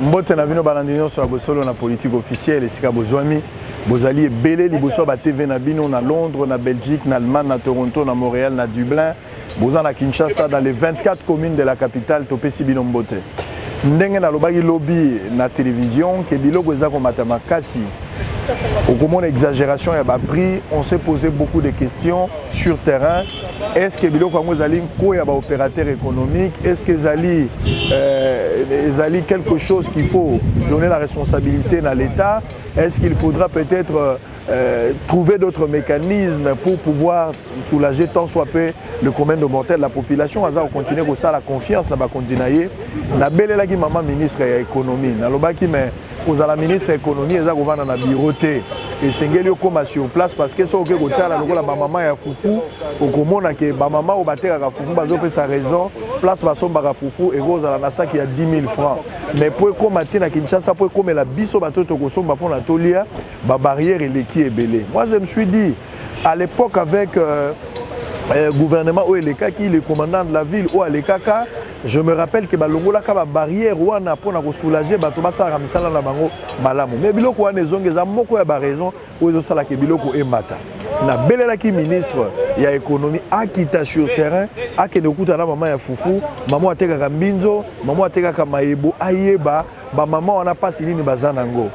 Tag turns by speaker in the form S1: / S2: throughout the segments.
S1: mbote na bino balandi nyonso ya bosolo na politike officielle esika bozwami bozali ebele liboso ya batv na bino na londres na belgique na allemagne na toronto na montréal na dublin boza na kinshasa dans les 24 communes de la capitale topesi bino mbote ndenge nalobaki lobi na télévision ke biloko eza komata makasi okomona exagération ya baprix on s'est posé beaucoup de questions sur terrain Est-ce que biloko yango ezali nko ya ba opérateurs économiques? Est-ce que ezali euh, ezali quelque chose qu'il faut donner la responsabilité na l'État? Est-ce qu'il faudra peut-être euh, euh, trouver d'autres mécanismes pour pouvoir soulager tant soit peu le commun de mortel la population aza continuer kosala confiance na bakonzi na ye nabelelaki mama ministre ya économie nalobaki mais kozala ministre ya économie eza kovanda na bureau te esengeli okóma sur place parce que soki oke kotala lokola bamama ya fufu okomona ke bamama oyo batekaka fufu bazopesa raison place basombaka fufu ekozala na saki ya 10 000 francs mais mpo ekóma ntina kinshasa mpo ekomela biso bato tokosomba mpo na tolia babarrière eleki ebele moi je me suis dit à l'époque avec euh, euh, gouvernement oyo elekaki le commandant de la ville oyo alekaka Je me rappelle que balongolaka ba barrières wana pona ko soulager bato basalaka misala na bango malamu. Mais biloko wana ezongi eza moko ya ba raison oyo ezosala ke biloko emata. nabelelaki ministre ya économie akita sur terrain akende kokuta na mama ya fufu mama atekaka mbinzo mama atekaka mayebo ayeba bamama wana mpasi nini baza na yango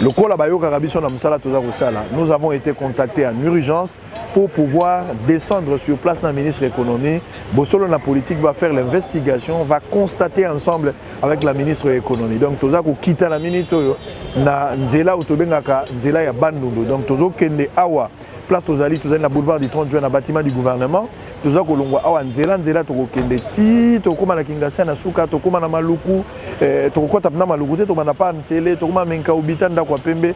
S1: lokola bayokaka biso na mosala toza kosala nous avons été contacté en urgence pour pouvoir descendre sur place dans le ministre économie. Bossolo la politique va faire l'investigation, va constater ensemble avec la ministre économie. Donc toza ko kita la minute oyo na nzela otobengaka nzela ya bandundu. Donc tozo kende awa place tozali tozali na boulevard du 30 juin na bâtiment du gouvernement toza kolongwa awa nzela nzela tokokende ti tokóma na kingasia na suka tokóma na maluku eh, tokokɔta mpena maluku te tokobanda pa nsele tokóma menkaubita ndako ya pembe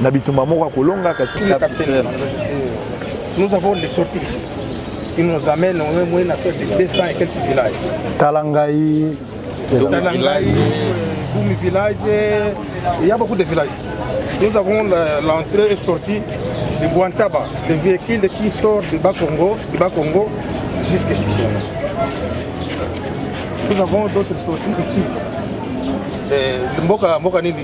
S1: na bitumba moko akolonga kasi
S2: nous avons les sorties ici ils nous amènent au moins moyen à faire des 200 et quelques villages Talangaï
S1: Talangaï
S2: Boumi village il y a beaucoup de villages nous avons l'entrée et sortie de Guantaba le véhicule qui sort de Bakongo de Bakongo jusqu'à Sissi nous avons d'autres sorties ici eh, mboka mboka nini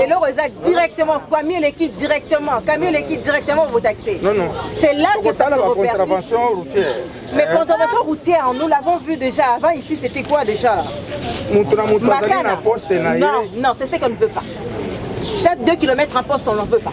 S3: eloko eza directement kami eleki directement kami eleki directement botaxe c'est là
S2: que ça
S3: se repercute
S2: mais contravention
S3: routière nous l'avons vu déjà avant ici c'était quoi déjà moto na moto
S2: azali na poste na ye non
S3: non c'est ce qu'on ne veut pas chaque 2 km un poste on n'en veut pas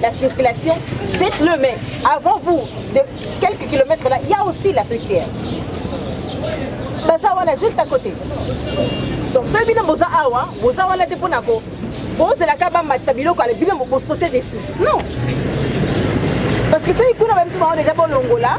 S3: la circulation, faites-le, mais avant vous, de quelques kilomètres là, il y a aussi la poussière. Baza wana juste à côté. Donc soki bino boza awa, boza wana te mpona ko bozelaka bamatisa biloko ale bino bosote dessus. Non. Parce que soki kuna bamisuba wana deja bolongola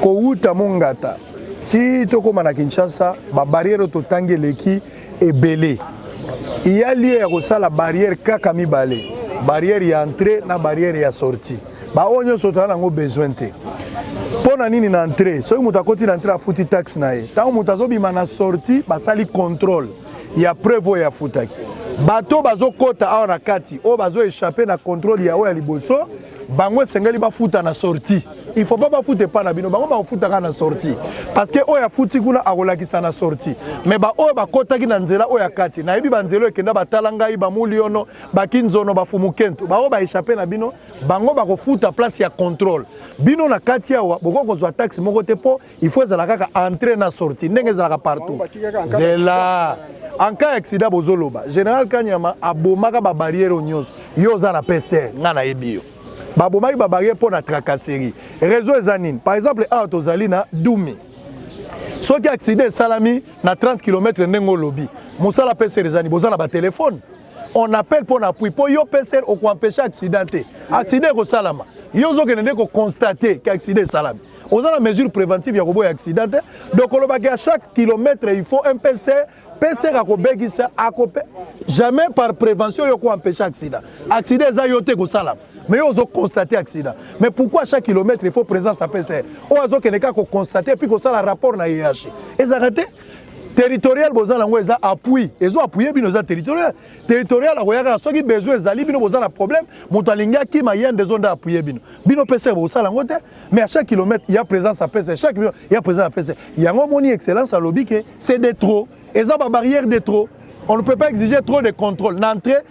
S1: kowuta mongata ti tokóma na kinshasa babarrière totangi eleki ebele iya lie ya kosala barrière kaka mibale barrière ya entrée na barrière ya sortie baoyo nyonso tozala nango besoin te mpo na nini na entrée soki moto akoti na entrée afuti taxe na ye ntango moto azobima na sortie basali contrôle ya preuve oyo afutaki bato bazokota awa na kati oyo bazoechappe na contrôle ya oyo ya liboso bango esengeli bafuta na sortie il faut pas bafuta epai na bino bango bakofutaka na sortie parce que oyo afuti kuna akolakisa na sortie mais baoyo bakotaki na nzela oyo ya kati nayebi banzela oyo ekenda batala ngai bamuliono bakinzono bafumukentu baoyo baechappe na bino bango bakofuta place ya contrôle bino na kati awa bokoki kozwa taxe moko te mpo il faut ezala kaka entrée na sortie ndenge ezalaka partout zela en cas accident bozoloba général kanyama abomaka babarrière oyo nyonso yo oza na pcr ngai nayebi yo babomaki babarrière mpo na tracasserie réseau eza nini par exemple awa tozali na dumi soki accident esalami na 30 km ndenge olobi mosala pcr ezani boza na batelefone on appelle mpo na appui mpo yo pcr okoempeshe accident te accident ekosalama yo ozokende nde koconstate ke accident esalami oza na mesure préventive ya koboya accident te donc olobaki ya chaque kilomètre il faut un pcr pcr akobekisa akope jamais par prévention yo koempeshe accident accident eza yo te ekosalama mais yo ozoconstate accident mais pourquoi chaque kilomètre il faut présence ya pcr oyo azokende kaka koconstate epuis kosala rapport na yeyashi ezalaka te territorial boza nango eza appui ezo appuye bino eza territorial territorial akoya kaka soki besoin ezali bino boza na problème moto alingi akima yende ezo nde appuye bino bino pese bosala yango te mais à chaque kilomètre ya présence apese chaque million ya présence apese yango omoni excellence alobi ke c'est de trop eza babarrière de trop on ne peut pas exiger trop de contrôle na entrée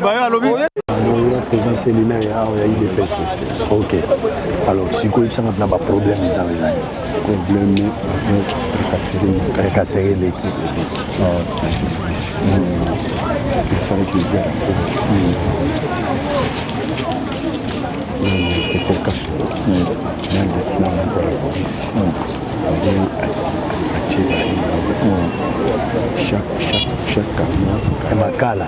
S1: nalongola président cellulaire ya awa ya udps ok alors sikoyo yebisanga mpena baproblème eza ezali problème bazo tracasere leki nasilibisi nasalaki eza ya inspecteur kaso na lieutenant moko ya polisi nde atie baira chaque chaque chaque camion makala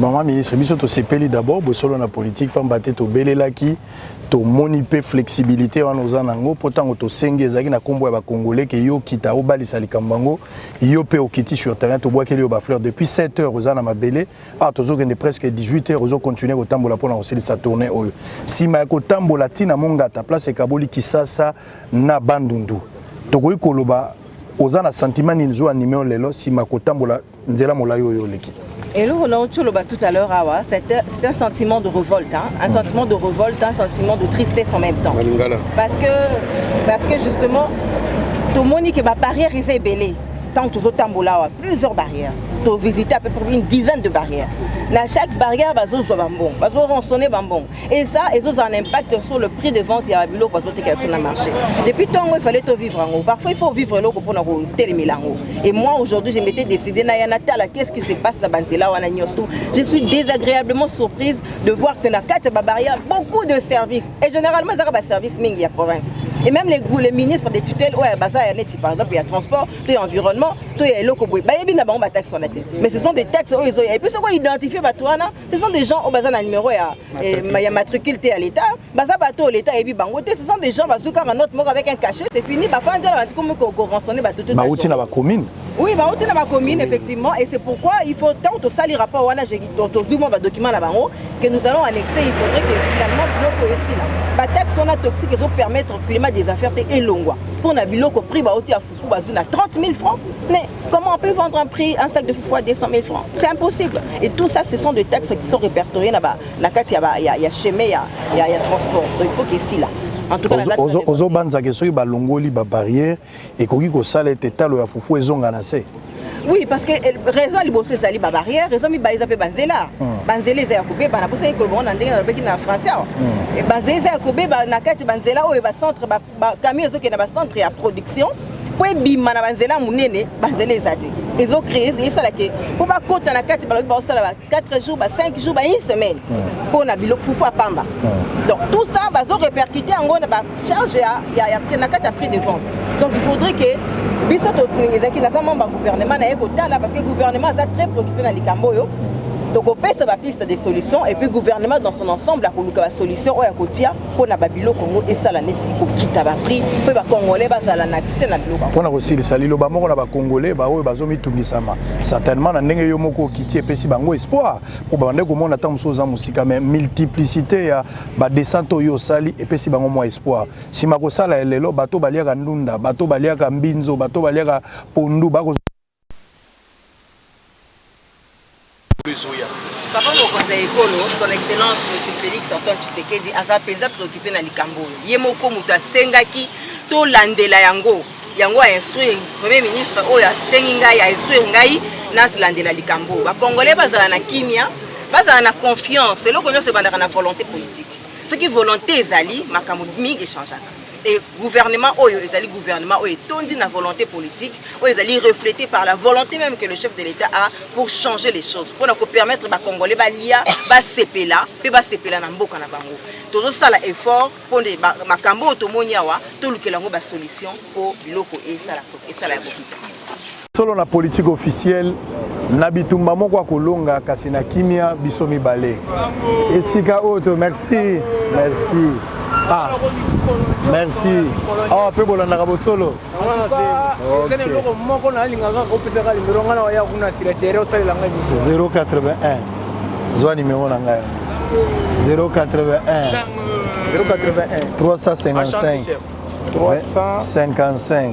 S1: Maman ministre, biso tosepeli d'abord bosolo na politique pamba te tobelelaki tomoni mpe flexibilité wana oza na yango mpo ntango tosengi ezalaki na nkombo ya bakongole ke yo okita obalisa likambo yango yo mpe okiti sur terrain tobwakeli yo bafleur depuis 7 heures oza na mabele awa ah, tozokende presque 18 heures ozocontinue kotambola mpo na kosilisa tourne oyo nsima ya kotambola ntina mongata place ekaboli kisasa na bandundu tokoki koloba oza na sentiment nini zo anime yo lelo nsima kotambola nzela molai oyo oleki eloko na oyo
S3: oloba tout à l'heure awa ah c'est un sentiment de révolte hein? un sentiment de révolte un sentiment de tristesse en même temps parce que parce que justement tomoni que babarrière eza ebele ntango tozotambola awa plusieurs barrières tovisite à peu près une dizaine de barrières na chaque barrière bazozwa bambongo bazoransonne bambongo et ça ils ont un impact sur le prix de vente ya biloko azotekela biso na marché depuis ntongo ifallait tovivre yango parfois il faut vivre eloko mpona kotelemela yango et moi aujourd'hui je m'étais décidé naya natala qu'est ce qui se passe na banzela wana nyonso je suis désagréablement surprise de voir que na kati ya babarrière beaucoup de services et généralement ezaka baservice mingi ya province et même les, les ministres des tutelles oyo baza ya neti par exemple ya transport to ya environnement to ya eloko boye bayebi na bango bataxe wana te mais ce sont des taxes oyo ezoya epuis soki oidentifie bato wana ce sont des gens oyo baza na numero ya, eh, ya matricule te ya leta baza bato oyo leta ayebi bango te ce sont des gens bazwi kaka note moko avec un cachet c'est fini bafandi wana batikomi koransonne bato tout bauti na bacommune oui bauti na bacommune effectivement et c'est pourquoi il faut ntango tosali rapport wana tozwi mwa badocument na bango que nous allons annexer il faudrait que finalement biloko esila bataxe wana toxique ezopermettre climat des affaires te elongwa mpo na biloko prix bauti Fou bazou na 30 000 francs, mais comment on peut vendre un prix, un sac de foufou à 200 000 francs C'est impossible. Et tout ça, ce sont des textes qui sont répertoriés dans la carte, il y a chemin, il y a transport. Donc il faut qu'il y ait là. ozobanzaka
S1: soki balongoli babarrière ekoki kosala ete talo ya fufu ezonga na se oui parce que
S3: eh, raison ya liboso ezali babarrière raison mibale eza mpe banzela hmm. banzela eza ya kobeba nabosaki koloba ngo na ndenge nalobaki na français awa hmm. eh, banzela eza ya kobeba na kati banzela oyo bacentre ba camion ezokende na ba centre ya production mpo ebima na banzela ya monene banzela eza te ezo créer esala ke mpo bakota na kati balobi baosala ba 4 jours ba 5 jours ba une semaine mpo na biloko fufu ya pamba donc tout ça bazo répercuter yango na ba charge ya, ya, ya, na kati ya prix de vente donc il faudrait que biso ezalaki naza membre ya gouvernement naye kotala parce que gouvernement aza très préoccupé na likambo oyo tokopesa bapiste de solution et puis gouvernement dans son ensemble akoluka basolution oyo akotia mpo na babiloko yango esala neti kokita baprix mpe bacongolais bazala na accès na biloko mpo na kosilisa liloba
S1: moko na bacongolais baoyo bazomitungisama certainement na ndenge yo moko okiti epesi bango espoir mpo babandaki komona ntango mosusu oza mosika mais multiplicité ya badescente oyo osali epesi bango mwa espoir nsima kosala ya lelo bato baliaka ndunda bato baliaka mbinzo bato baliaka pondu bako
S3: Papa mokonzi ya ekolo son excellence monsieur Felix Antoine Tshisekedi aza mpenza preoccupe na likambo oyo ye moko moto asengaki tolandela yango yango a instruire premier ministre oyo asengi ngai a instruire ngai nalandela likambo oyo bacongolais bazala na kimia bazala na confiance eloko nyonso ebandaka na volonté politique soki volonté ezali makambo mingi echangeaka Et gouvernement oyo ezali gouvernement oyo etondi na volonté politique oyo ezali reflété par la volonté même que le chef de l'État a pour changer les choses pour na ko permettre ba congolais ba lia ba sepela pe ba sepela na mboka na bango tozo sala effort pour nde makambo oyo tomoni awa tolukela yango ba solution po biloko esala esala ya bokita
S1: Solo na politique officielle na bitumba moko akolonga kasi na kimia biso mibale esika oyo to merci merci ah merci awa mpe bolandaka bosolo eza na eloko moko nalinga kaka opesaka limero ngai na waya kuna sila tere osalela ngai 081 zwa nimero na ngai 081 081 355 355